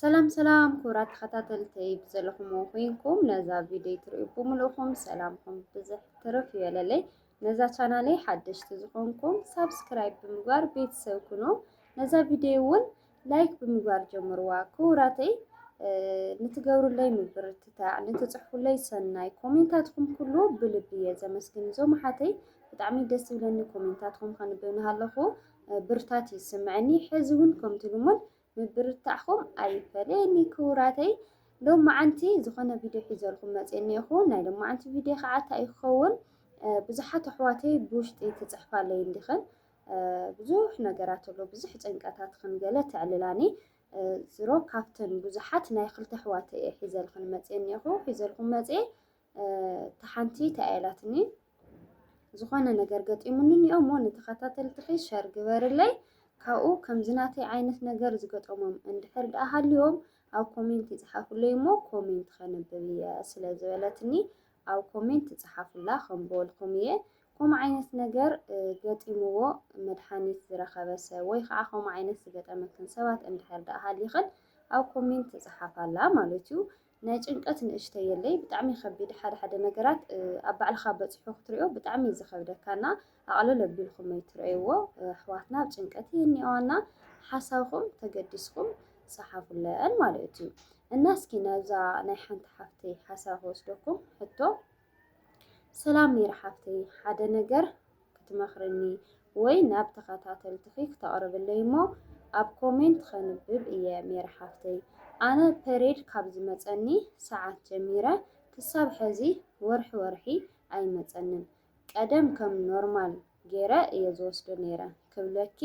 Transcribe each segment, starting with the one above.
ሰላም ሰላም ክቡራት ተኸታተልተይ ብዘለኹም ኮይንኩም ነዛ ቪድዮ ትርእዩ ብምልእኹም ሰላምኩም ብዝሕ ትርፍ ይበለለይ። ነዛ ቻናለይ ሓደሽቲ ዝኾንኩም ሳብስክራይብ ብምግባር ቤተሰብ ኩኖ። ነዛ ቪድዮ እውን ላይክ ብምግባር ጀምርዋ። ክቡራተይ ንትገብሩለይ ምብርትታዕ ንትፅሕፉለይ ሰናይ ኮሜንታትኩም ኩሉ ብልቢ እየ ዘመስግን። እዞም ኣሓተይ ብጣዕሚ ደስ ዝብለኒ ኮሜንታትኩም ከንብብ ንሃለኹ ብርታት እዩ ዝስምዐኒ ሕዚ እውን ከምቲ ልሙድ ምብርታዕኹም ኣይፈለየኒ ክቡራተይ ሎማዓንቲ ዝኾነ ቪድዮ ሒዘልኩም መፅየ እኒኦኹ ናይ ሎማዓንቲ ቪድዮ ከዓ እንታይ ይኸውን ብዙሓት ኣሕዋተይ ብውሽጢ ትፅሕፋለይ እንዲኽን ብዙሕ ነገራት ኣሎ ብዙሕ ጭንቀታት ክንገለ ተዕልላኒ ዝሮ ካብተን ብዙሓት ናይ ክልተ ኣሕዋተይ እየ ሒዘልክን መፅየ እኒኦኹ ሒዘልኩም መፅየ እቲ ሓንቲ እንታይ ኢላትኒ ዝኾነ ነገር ገጢሙኒ እኒኦ እሞ ንተኸታተልትኺ ሸር ግበርለይ ካብኡ ከምዚ ናተይ ዓይነት ነገር ዝገጠሞም እንድሕር ደኣ ሃልዮም ኣብ ኮሜንት ይፅሓፉለይ እሞ ኮሜንት ከንብብ እየ ስለ ዝበለትኒ ኣብ ኮሜንት ይፅሓፉላ ከምበልኩም እየ ከምኡ ዓይነት ነገር ገጢምዎ መድሓኒት ዝረኸበ ሰብ ወይ ከዓ ከምኡ ዓይነት ዝገጠመክን ሰባት እንድሕር ደኣ ሃሊኽን ኣብ ኮሜንት ይፅሓፋላ ማለት እዩ ናይ ጭንቀት ንእሽተይ የለይ ብጣዕሚ ከቢድ ሓደ ሓደ ነገራት ኣብ ባዕልኻ በፂሑ ክትሪኦ ብጣዕሚ እዩ ዝኸብደካና ኣቕልል ኣቢልኩም ይትረእይዎ ኣሕዋትና ኣብ ጭንቀት ይህኒኦና ሓሳብኩም ተገዲስኩም ፀሓፉለን ማለት እዩ እና እስኪ ነዛ ናይ ሓንቲ ሓፍተይ ሓሳብ ክወስደኩም ሕቶ ሰላም ሜሪ ሓፍተይ ሓደ ነገር ክትመኽርኒ ወይ ናብ ተኸታተልትኺ ክተቕርብለይ እሞ ኣብ ኮሜንት ኸንብብ እየ ሜሪ ሓፍተይ ኣነ ፐሬድ ካብ ዝመፀኒ ሰዓት ጀሚረ ክሳብ ሕዚ ወርሒ ወርሒ ኣይመፀንን ቀደም ከም ኖርማል ገይረ እየ ዝወስዶ ነይረ ክብለኪ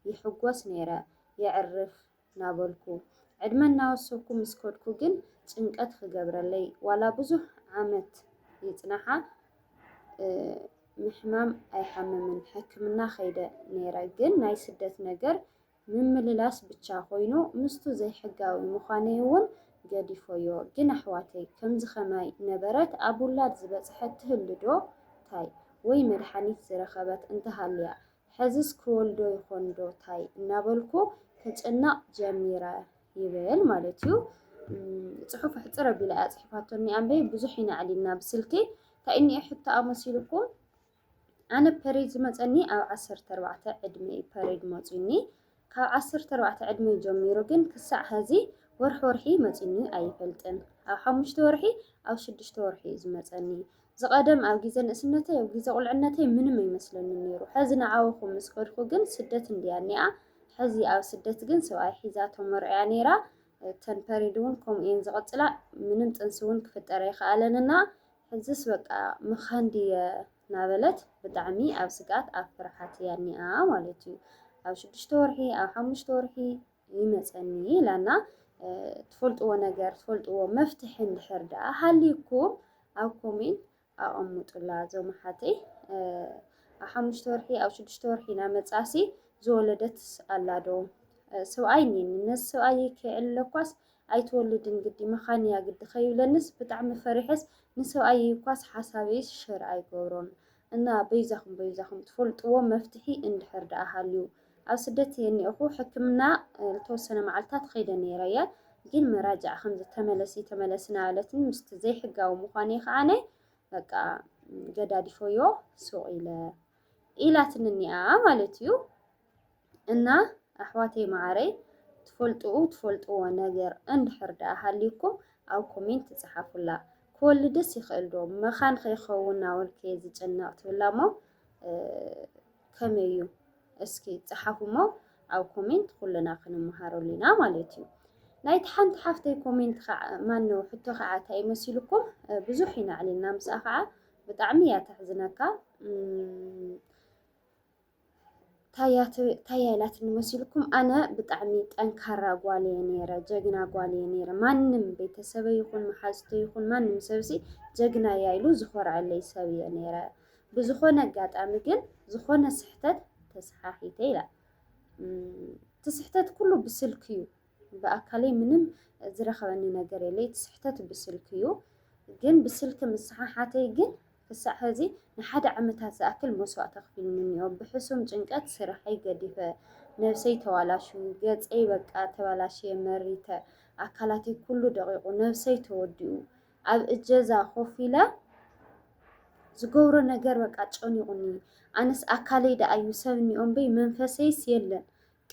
ይሕጎስ ነይረ የዕርፍ ናበልኩ ዕድመ እናወሰኩ ምስ ከድኩ ግን ጭንቀት ክገብረለይ ዋላ ብዙሕ ዓመት ይጽናሓ ምሕማም ኣይሓምምን ሕክምና ከይደ ነይረ ግን ናይ ስደት ነገር ምምልላስ ብቻ ኮይኑ ምስቱ ዘይሕጋዊ ምዃነይ እውን ገዲፎዮ ግን ኣሕዋተይ ከምዚ ከማይ ነበረት ኣብ ውላድ ዝበጽሐት ትህልዶ ታይ ወይ መድሓኒት ዝረኸበት እንተሃልያ ሕዝስ ክወልዶ ይኾን ዶ ታይ እናበልኩ ክጭነቕ ጀሚረ ይብል ማለት እዩ። ፅሑፍ ኣሕፅር ኣቢላ እያ ፅሒፋቶ እኒኣ እምበይ ብዙሕ ኢና ኣዕሊልና ብስልኪ እንታይ እኒኦ ሕቶኣ መሲልኩም ኣነ ፐሬድ ዝመፀኒ ኣብ ዓሰርተ ኣርባዕተ ዕድመ እዩ ፐሬድ መፅዩኒ ካብ ዓሰርተ ኣርባዕተ ዕድመይ ጀሚሩ ግን ክሳዕ ሐዚ ወርሒ ወርሒ መፂኒ ኣይፈልጥን። ኣብ ሓሙሽተ ወርሒ ኣብ ሽዱሽተ ወርሒ እዩ ዝመፀኒ። ዝቐደም ኣብ ግዜ ንእስነተይ ኣብ ግዜ ቁልዕነተይ ምንም ኣይመስለንን ነይሩ። ሐዚ ንዓወኹ ምስ ከድኩ ግን ስደት እንድያ እኒኣ። ሐዚ ኣብ ስደት ግን ሰብኣይ ሒዛ ተመርዕያ ነይራ። እተን ፐሪድ እውን ከምኡ እየን ዝቕፅላ። ምንም ጥንሲ እውን ክፍጠር ኣይከኣለን እና ሕዝስ በቃ ምኻን ድየ እናበለት ብጣዕሚ ኣብ ስግኣት ኣብ ፍርሓት እያ እኒኣ ማለት እዩ። ኣብ ሽዱሽተ ወርሒ ኣብ ሓሙሽተ ወርሒ ይመፀኒ ኢላና ትፈልጥዎ ነገር ትፈልጥዎ መፍትሒ እንድሕር ደኣ ሃልዩኩም ኣብ ኮሜንት ኣቐምጡላ እዞም ኣሓተይ ኣብ ሓሙሽተ ወርሒ ኣብ ሽዱሽተ ወርሒ እናመፃሲ ዝወለደትስ ኣላ ዶ ሰብኣይ እኒኒ ነዚ ሰብኣይ ከይዕልለኳስ ኣይትወልድን ግዲ መኻን እያ ግዲ ከይብለንስ ብጣዕሚ ፈሪሐስ ንሰብኣየይ እኳስ ሓሳበይስ ሸር ኣይገብሮን እና በይዛኹም በይዛኹም ትፈልጥዎ መፍትሒ እንድሕር ደኣ ሃልዩ ኣብ ስደት እየ እኒኤኹ ሕክምና ልተወሰነ መዓልታት ኸይደ ነይረ እየ ግን መራጃዕ ከምዚ ተመለሲ ተመለሲ ናበለትኒ ምስቲ ዘይሕጋዊ ምዃነይ ከዓነ በቃ ገዳዲፎዮ ሱቕ ኢለ ኢላትኒ እኒኣ ማለት እዩ። እና ኣሕዋተይ መዓረይ ትፈልጥኡ ትፈልጥዎ ነገር እንድሕር ደኣ ሃልዩኩም ኣብ ኮሜንት ትጽሓፉላ። ክወልድስ ይኽእል ዶ መኻን ከይኸውን ናበልከ ዝጭነቕ ትብላ እሞ ከመይ እዩ እስኪ ጽሓፉ እሞ ኣብ ኮሜንት ኩልና ክንመሃረሉ ኢና ማለት እዩ። ናይቲ ሓንቲ ሓፍተይ ኮሜንት ከዓ ማነው ሕቶ ከዓ እንታይ መሲልኩም ብዙሕ ኢና ዕሊልና ምስኣ ከዓ ብጣዕሚ እያ ተሕዝነካ ታያይ ናትኒ መሲልኩም ኣነ ብጣዕሚ ጠንካራ ጓል እየ ነይረ፣ ጀግና ጓል እየ ነይረ። ማንም ቤተሰበይ ይኹን መሓዝቶ ይኹን ማንም ሰብሲ ጀግና እያ ኢሉ ዝኾርዐለይ ሰብ እየ ነይረ። ብዝኾነ ኣጋጣሚ ግን ዝኾነ ስሕተት ተሰሓሒተ ኢላ እቲ ስሕተት ኩሉ ብስልኪ እዩ ብኣካለይ ምንም ዝረኸበኒ ነገር የለ እቲ ስሕተት ብስልኪ እዩ ግን ብስልኪ ምስሓሓተይ ግን ክሳዕ ሕዚ ንሓደ ዓመታት ዝኣክል መስዋእቲ ኣኽፊሉኒ እኒኦ ብሕሱም ጭንቀት ስርሐይ ገዲፈ ነብሰይ ተዋላሹ ገፀይ በቃ ተበላሽየ መሪተ ኣካላተይ ኩሉ ደቂቁ ነብሰይ ተወዲኡ ኣብ እጀዛ ኮፍ ኢለ ዝገብሮ ነገር በቃ ጨኒቑኒ ኣነስ ኣካለይ ደኣዩ ሰብ እኒኦ እምበይ መንፈሰይስ የለን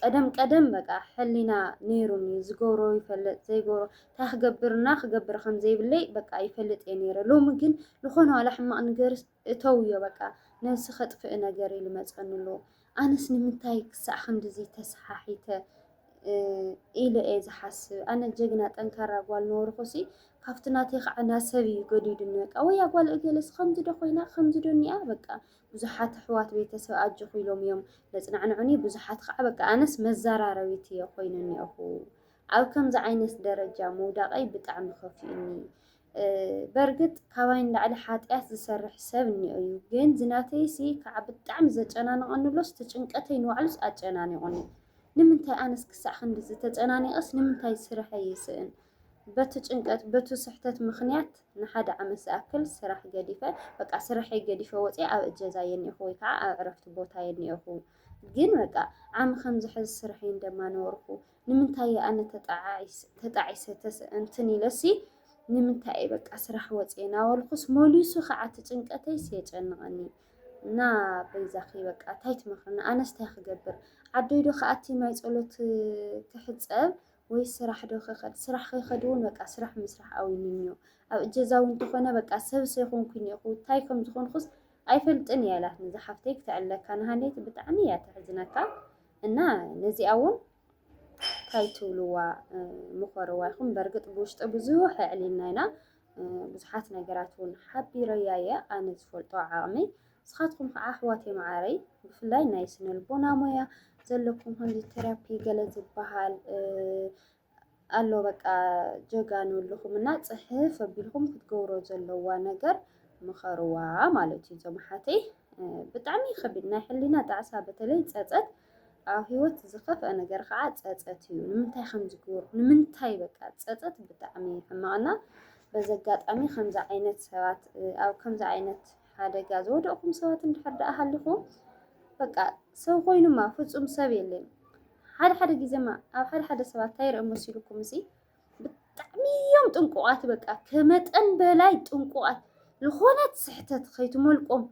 ቀደም ቀደም በቃ ሕሊና ነይሩኒ ዝገብሮ ይፈልጥ ዘይገብሮ እንታይ ክገብር እና ክገብር ከም ዘይብለይ በቃ ይፈልጥ እየ ነይረ ሎሚ ግን ዝኾነ ዋላ ሕማቕ ነገር እተውዮ በቃ ነብሲ ከጥፍእ ነገር ኢሉ መጸኒ ኣሎ ኣነስ ንምንታይ ክሳዕ ክንድዚ ተሰሓሒተ ኢለ እየ ዝሓስብ ኣነ ጀግና ጠንካራ ጓል ነበርኩሲ ካብቲ ናተይ ከዓ ናሰብ እዩ ገዲዱኒ በቃ ወያ ጓል እገለስ ከምዚ ዶ ኮይና ከምዚ ዶ እኒኣ በቃ ብዙሓት ኣሕዋት ቤተሰብ ኣጆኺ ኢሎም እዮም ዘጽናዕንዑኒ፣ ብዙሓት ኸኣ በቃ ኣነስ መዘራረቢት እየ ኾይነ እኒኦኹ። ኣብ ከምዚ ዓይነት ደረጃ ምውዳቐይ ብጣዕሚ ከፊኡኒ። በርግጥ ካባይ ንላዕሊ ሓጢኣት ዝሰርሕ ሰብ እኒኦ እዩ፣ ግን ዝናተይሲ ከዓ ብጣዕሚ ዘጨናንቐኒ ኣሎስ እቲ ጭንቀተይ ንባዕሉስ ኣጨናኒቑኒ። ንምንታይ ኣነስ ክሳዕ ክንድዚ ተጨናኒቐስ ንምንታይ ስርሐይ ይስእን? በቲ ጭንቀት በቱ ስሕተት ምኽንያት ንሓደ ዓመት ዝኣክል ስራሕ ገዲፈ በቃ ስርሐይ ገዲፈ ወፅየ ኣብ እጀዛ የኒኹ ወይ ከዓ ኣብ ዕረፍቲ ቦታ የኒኹ ግን በቃ ዓሚ ከም ዝሕዝ ስርሐይ እንደማ ነበርኩ ንምንታይ ኣነ ተጣዒሰ እንትን ኢለሲ ንምንታይ በቃ ስራሕ ወፅየ ናበልኩስ መሊሱ ከዓ እቲ ጭንቀተይስ የጨንቐኒ እና በይዛኺ በቃ እንታይ ትመኽርኒ ኣነስ እንታይ ክገብር ዓደይዶ ከኣቲ ማይ ፀሎት ክሕፀብ ወይ ስራሕ ዶ ክኸድ ስራሕ ክኸድ እውን በቃ ስራሕ ምስራሕ ኣውዩኒ እዮ ኣብ እጀዛ እውን ተኾነ በቃ ሰብስ ኣይኮንኩን እኹ እንታይ ከም ዝኾንኩስ ኣይፈልጥን እየ ኣላት ነዛ ሓፍተይ ክተዕለካ ንሃለይት ብጣዕሚ እያ ተሕዝነካ እና ነዚኣ እውን እንታይ ትብልዋ ምኾርዋ ይኹም በርግጥ ብውሽጢ ብዙሕ ኣዕሊልና ኢና ብዙሓት ነገራት እውን ሓቢረያ እየ ኣነ ዝፈልጦ ዓቕመይ ንስኻትኩም ኸዓ ኣሕዋተይ መዓረይ ብፍላይ ናይ ስነልቦና ሞያ ዘለኩም ከምዚ ቴራፒ ገለ ዝበሃል ኣሎ በቃ ጀጋኑ ኣለኹም እና ፅሕፍ ኣቢልኩም ክትገብሮ ዘለዋ ነገር ምኸርዋ ማለት እዩ። እዞም ሓተይ ብጣዕሚ ይኸብድ ናይ ሕሊና ጣዕሳ በተለይ ፀፀት ኣብ ህይወት ዝኸፍአ ነገር ከዓ ፀፀት እዩ። ንምንታይ ከም ዝገበርኩ ንምንታይ በቃ ፀፀት ብጣዕሚ ሕማቕና በዚ ኣጋጣሚ ከምዚ ዓይነት ሰባት ኣብ ከምዚ ዓይነት ሓደጋ ዝወደቕኩም ሰባት እንድሕር ደኣ ሃሊኹም በቃ ሰብ ኮይኑማ ፍጹም ሰብ የለን። ሓደ ሓደ ግዜማ ኣብ ሓደ ሓደ ሰባት እንታይ ይርእ መሲልኩም እዚ ብጣዕሚ እዮም ጥንቁቓት በቃ ከመጠን በላይ ጥንቁቓት ዝኾነት ስሕተት ከይትመልቆም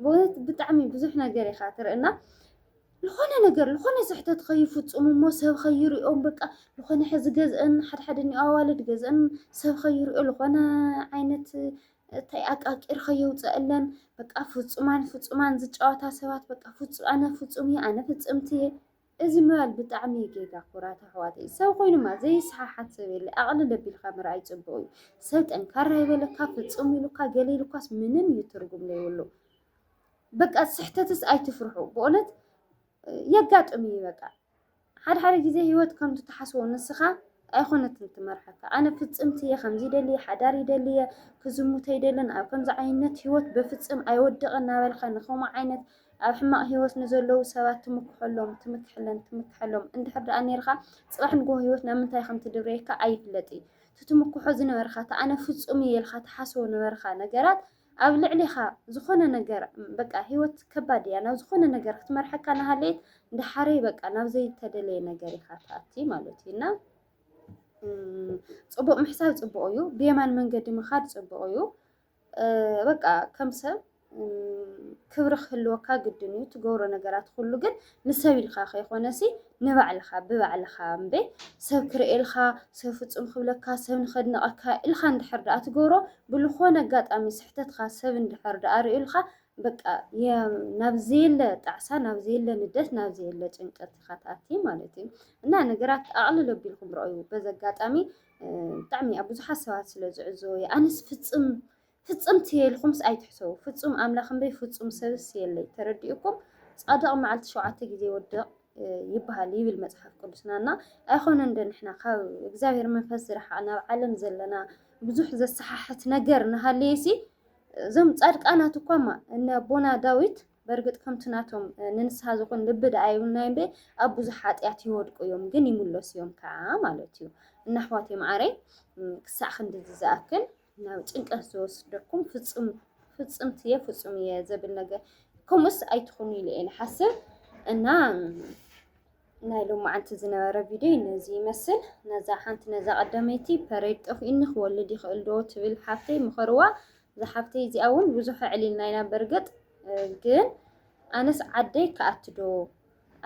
ብእውነት ብጣዕሚ ብዙሕ ነገር ኢኻ ትርእና ልኾነ ነገር ልኾነ ስሕተት ኸይፍፁሙ እሞ ሰብ ኸይሪኦም በቃ ልኾነ ሕዚ ገዝአን ሓድሓደ እኒኦ ኣዋልድ ገዝአን ሰብ ኸይሪኦ ልኾነ ዓይነት እንታይ ኣቃቂር ኸየውፀአለን በቃ ፍፁማን ፍፁማን ዝጫወታ ሰባት በቃ ፍፁ ኣነ ፍፁም እየ ኣነ ፍፅምቲ እየ እዚ ምባል ብጣዕሚ እዩ ጌጋ ኩራት ኣሕዋተይ ሰብ ኮይኑማ ዘይሰሓሓት ሰብ የለ ኣቕልል ኣቢልካ ምርኣይ ፅቡቕ እዩ ሰብ ጠንካራ ይበለካ ፍፁም ኢሉካ ገለ ኢሉካስ ምንም እዩ ትርጉም ዘይብሉ በቃ ስሕተትስ ኣይትፍርሑ ብእውነት የጋጥም እዩ በቃ ሓደ ሓደ ግዜ ህይወት ከምቲ ትሓስቦ ንስኻ ኣይኮነትን ትመርሓካ ኣነ ፍፅምቲ እየ ከምዚ ይደሊ እየ ሓዳር ይደሊ እየ ክዝሙት ኣይደልን ኣብ ከምዚ ዓይነት ህይወት በፍፅም ኣይወድቕን እናበልካ ንከምኡ ዓይነት ኣብ ሕማቕ ህይወት ንዘለዉ ሰባት ትምክሐሎም ትምክሐለን ትምክሐሎም እንድሕር ደኣ ነርካ ፅባሕ ንግሆ ህይወት ናብ ምንታይ ከም ትድርበየካ ኣይፍለጥ እዩ እቲ ትምክሖ ዝነበርካ እቲ ኣነ ፍፁም እየ ኢልካ ትሓስቦ ነበርካ ነገራት ኣብ ልዕሌኻ ዝኾነ ነገር በቃ ህይወት ከባድ እያ ናብ ዝኾነ ነገር ክትመርሐካ ናሃለየት ዳሓረይ በቃ ናብ ዘይተደለየ ነገር ኢኻ ትኣቲ ማለት እዩ እና ፅቡቅ ምሕሳብ ፅቡቅ እዩ ብየማን መንገዲ ምኻድ ፅቡቅ እዩ በቃ ከም ሰብ ክብሪ ክህልወካ ግድን እዩ ትገብሮ ነገራት ኩሉ ግን ንሰብ ኢልካ ከይኮነሲ ንባዕልኻ ብባዕልኻ እምበይ ሰብ ክርእየልካ ሰብ ፍጹም ክብለካ ሰብ ንኸድንቐካ ኢልካ እንድሕር ደኣ ትገብሮ ብልኾነ ኣጋጣሚ ስሕተትካ ሰብ እንድሕር ደኣ ርእዩልካ በቃ ናብ ዘየለ ጣዕሳ ናብ ዘየለ ንደት ናብ ዘየለ ጭንቀት ኢኻ ትኣቲ ማለት እዩ እና ነገራት ኣቕልል ኣቢልኩም ረኣዩ በዚ ኣጋጣሚ ብጣዕሚ ኣብ ብዙሓት ሰባት ስለ ዝዕዘቦ እዩ ኣነስ ፍፅም ፍጽምቲ እየ ኢልኩምስ ኣይትሕሰቡ ፍጹም ኣምላኽ እምበይ ፍጹም ሰብስ የለይ ተረዲኡኩም ጻድቕ መዓልቲ ሸውዓተ ግዜ ይወድቕ ይበሃል ይብል መጽሓፍ ቅዱስና እና ኣይኮነን ዶ ንሕና ካብ እግዚኣብሔር መንፈስ ዝረሓቕና ኣብ ዓለም ዘለና ብዙሕ ዘሰሓሕት ነገር እናሃለየሲ እዞም ጻድቃናት እኳማ እነ ኣቦና ዳዊት በርግጥ ከምቲ ናቶም ንንስሓ ዝኾን ልቢ ደኣ ይብልናዮ እምበ ኣብ ብዙሕ ሓጢኣት ይወድቁ እዮም ግን ይምለሱ እዮም ከዓ ማለት እዩ እና ኣሕዋተይ መዓረይ ክሳዕ ክንድዚ ዝኣክል ናብ ጭንቀት ዝወስደኩም ፍፁም ፍፅምት እየ ፍፁም እየ ዘብል ነገር ከምኡስ ኣይትኹኑ ኢለ እየ ንሓስብ እና ናይ ሎማዓንቲ ዝነበረ ቪድዮ ነዚ ይመስል። ነዛ ሓንቲ ነዛ ቀዳመይቲ ፐሬድ ጠፍኡኒ ክወልድ ይኽእል ዶ ትብል ሓፍተይ ምኸርዋ። እዛ ሓፍተይ እዚኣ እውን ብዙሕ ዕሊልና ኢና በርግጥ ግን ኣነስ ዓደይ ክኣትዶ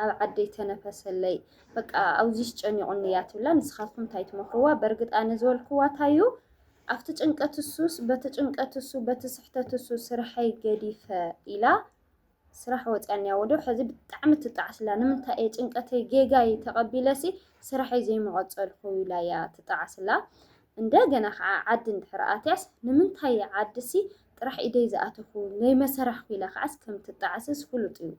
ኣብ ዓደይ ተነፈሰለይ በቃ ኣብዚሽ ጨኒቑኒ እያ ትብላ። ንስኻትኩም እንታይ ትመኽርዋ? በርግጥ ኣነ ዝበልክዋ እንታዩ ኣብቲ ጭንቀት እሱስ በቲ ጭንቀት እሱ በቲ ስሕተት እሱ ስርሐይ ገዲፈ ኢላ ስራሕ ወፅያኒያ ወዶ ሕዚ ብጣዕሚ ትጣዓስላ ንምንታይ እየ ጭንቀተይ ጌጋይ ተቐቢለሲ ስራሐይ ዘይመቐፀልኩ ኢላ እያ ትጣዓስላ። እንደገና ከዓ ዓዲ እንድሕር ኣትያስ ንምንታይ ዓድሲ ጥራሕ ኢደይ ዝኣተኹ ዘይመሰራሕኩ ኢላ ከዓስ ከም ትጣዓስስ ፍሉጥ እዩ።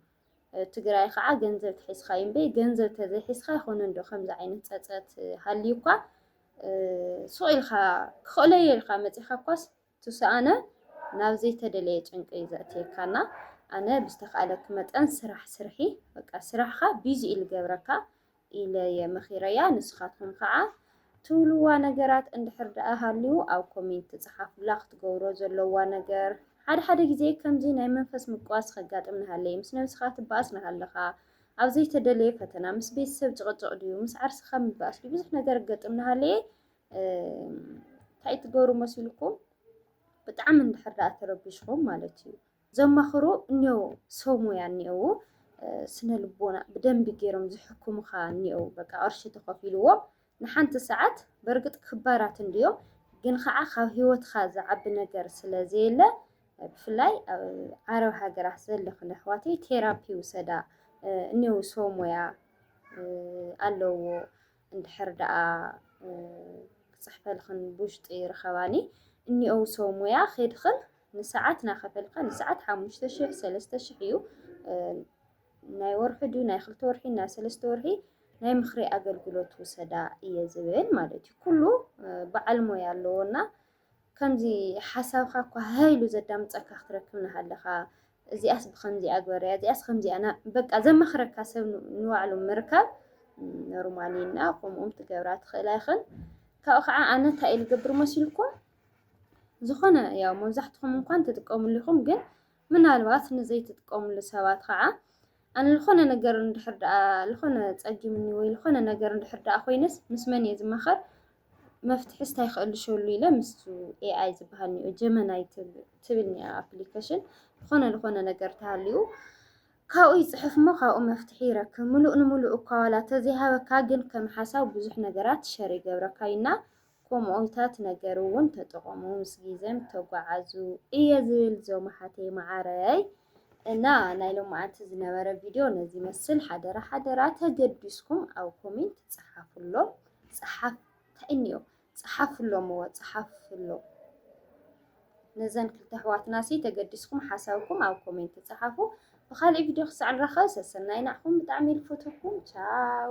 ትግራይ ከዓ ገንዘብ ትሒዝካ እዩ እምበይ ገንዘብ ተዘይሒዝካ ይኾነ እንዶ ከምዚ ዓይነት ፀፀት ሃልዩ እኳ ሱቕ ኢልካ ክኽእሎ እየ ኢልካ መፂኻ እኳስ ትስኣነ ናብ ዘይተደለየ ጭንቂ እዩ ዘእትየካና ኣነ ብዝተካእለኪ መጠን ስራሕ ስርሒ በቃ ስራሕካ ቢዚ ኢሉ ገብረካ ኢለ'የ መኺረያ ንስኻትኩም ኸኣ ትብልዋ ነገራት እንድሕር ደኣ ሃልዩ ኣብ ኮሜንት ጽሓፉላ ክትገብሮ ዘለዋ ነገር ሓደ ሓደ ግዜ ከምዚ ናይ መንፈስ ምቅዋስ ኸጋጥም ንሃለየ ምስ ነብስኻ ትባኣስ ንሃለኻ ኣብ ዘይተደለየ ፈተና ምስ ቤተሰብ ጭቕጭቕ ድዩ ምስ ዓርስኻ ምባኣስ ድዩ ብዙሕ ነገር ገጥም ንሃለየ እንታይ ትገብሩ መሲልኩም ብጣዕሚ እንድሕር ደኣ ተረቢሽኹም ማለት እዩ ዘማኽሩ እኔዉ ሰው ሙያ እኔዉ ስነ ልቦና ብደንቢ ገይሮም ዝሕክሙኻ እኔዉ በቃ ቅርሺ ተኸፊልዎም ንሓንቲ ሰዓት በርግጥ ክባራት እንድዮም ግን ከዓ ካብ ህይወትኻ ዝዓቢ ነገር ስለ ዘየለ ብፍላይ ኣብ ዓረብ ሃገራት ዘለኽን ኣሕዋተይ ቴራፒ ውሰዳ እኔዉ ሰው ሙያ ኣለዉዎ እንድሕር ደኣ ክጽሕፈልኽን ብውሽጢ ርኸባኒ፣ እኒኦው ሰው ሙያ ኬድኽን ንሰዓት ናኸፈልካ ንሰዓት ሓሙሽተ ሽሕ ሰለስተ ሽሕ እዩ ናይ ወርሒ ድዩ ናይ ክልተ ወርሒ ናይ ሰለስተ ወርሒ ናይ ምኽሪ ኣገልግሎት ውሰዳ እየ ዝብል ማለት እዩ። ኩሉ በዓል ሞያ ኣለዎና ከምዚ ሓሳብካ እኳ ሃህ ኢሉ ዘዳምጸካ ክትረክብ እናሃለኻ እዚኣስ ብኸምዚኣ ግበርያ እዚኣስ ከምዚኣ በቃ ዘማኽረካ ሰብ ንባዕሉ ምርካብ ኖርማል እዩ እና ከምኡም ትገብራ ትኽእላ ይኽን ካብኡ ከዓ ኣነ እንታይ እዩ ልገብር መሲልኩም ዝኾነ ያው መብዛሕትኹም እንኳን ትጥቀሙሉ ኢኹም ግን ምናልባት ንዘይትጥቀምሉ ሰባት ኸዓ ኣነ ልኾነ ነገር እንድሕር ደኣ ልኾነ ጸጊምኒ ወይ ልኾነ ነገር እንድሕር ደኣ ኮይነስ ምስ መን እየ ዝማኸር መፍትሕስ እንታይ ክእልሸሉ ኢለ ምስ ኤኣይ ዝበሃል ኒኦ ጀመናይ ትብል ኒኣ ኣፕሊኬሽን ዝኾነ ልኾነ ነገር ተሃልዩ ካብኡ ይፅሕፍ እሞ ካብኡ መፍትሒ ይረክብ ምሉእ ንምሉእ እኳ ዋላ ተዘይሃበካ ግን ከም ሓሳብ ብዙሕ ነገራት ሸር ይገብረካ እዩና ኮምኦታት ነገር ውን ተጠቐሙ ምስ ጊዘም ተጓዓዙ እየ ዝብል ዞም ኣሓተይ ማዓረይ። እና ናይ ሎማዓንቲ ዝነበረ ቪድዮ ነዚ መስል ሓደራ ሓደራ ተገዲስኩም ኣብ ኮሜንት ጸሓፍሎም ጸሓፍ ታይ እንዮ ጸሓፍሎም እወ ጸሓፍሎም ነዘን ክልተ ኣሕዋትና ሲ ተገዲስኩም ሓሳብኩም ኣብ ኮሜንት ጸሓፉ። ብኻልእ ቪድዮ ክሳዕ ንራኸብ ሰሰናይ ናዕኹም ብጣዕሚ ልፈትኩም ቻው